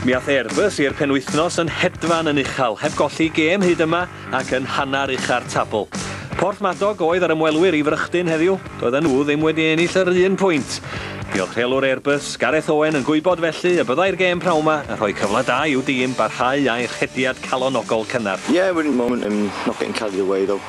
Mi ath Airbus i'r penwythnos yn hedfan yn uchel, heb golli gêm hyd yma ac yn hanner ucha'r tabl. Porthmadog oedd yr ymwelwyr i frychdyn heddiw, doedden nhw ddim wedi ennill yr un pwynt. Diolch rheolwr Airbus, Gareth Owen yn gwybod felly y byddai'r gêm prawn 'ma yn rhoi cyfle da i'w dîm barhau â'i rhediad calonogol cynnar. Yeah, winning moment and not getting carried away though.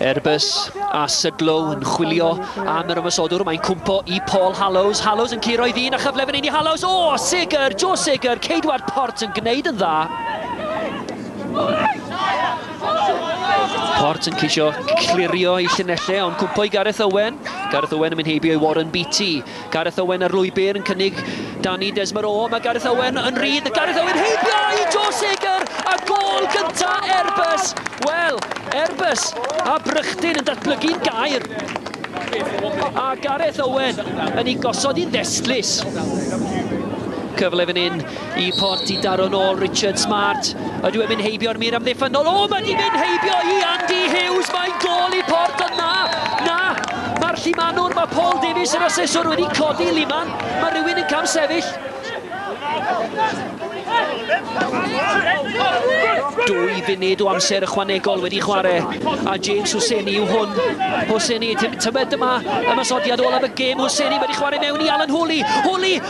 Er bys a Sudlow yn chwilio am yr ymosodwr, mae'n cwmpo i Paul Hallows. Hallows yn curo i ddyn a chyfle fan hyn i Hallows. O, oh, Seger, Joe Seger, Ceidwad Port yn gwneud yn dda. Port yn ceisio clirio i llunellau, ond cwmpo i Gareth Owen. Gareth Owen yn mynd heibio i Warren Beatty. Gareth Owen ar lwybr yn cynnig dan i Des Morrow, mae Gareth Owen yn rydd, a Gareth Owen heibio i Joe Seger a gôl gynta Airbus! Wel, Airbus a Brychdyn yn datblygu'n gair, a Gareth Owen yn ei gosod hi'n ddestlus. Cyfle fan hyn Y port i daro nôl Richard Smart. Ydw e'n mynd heibio'r mur amddiffynnol? O, mae di mynd heibio i Andy Hughes. Mae'n gol i port, ond na, na. Mae'r llimanwr, mae Paul Davies, yr aseswr, wedi codi liman. Mae rhywun yn cam sefyll. Dwy funud o amser ychwanegol wedi chwarae a James Husseini yw hwn. Husseini, tybed dyma ymasodiad olaf y gêm. Husseini wedi chwarae mewn i Alan Hwli. Hwli,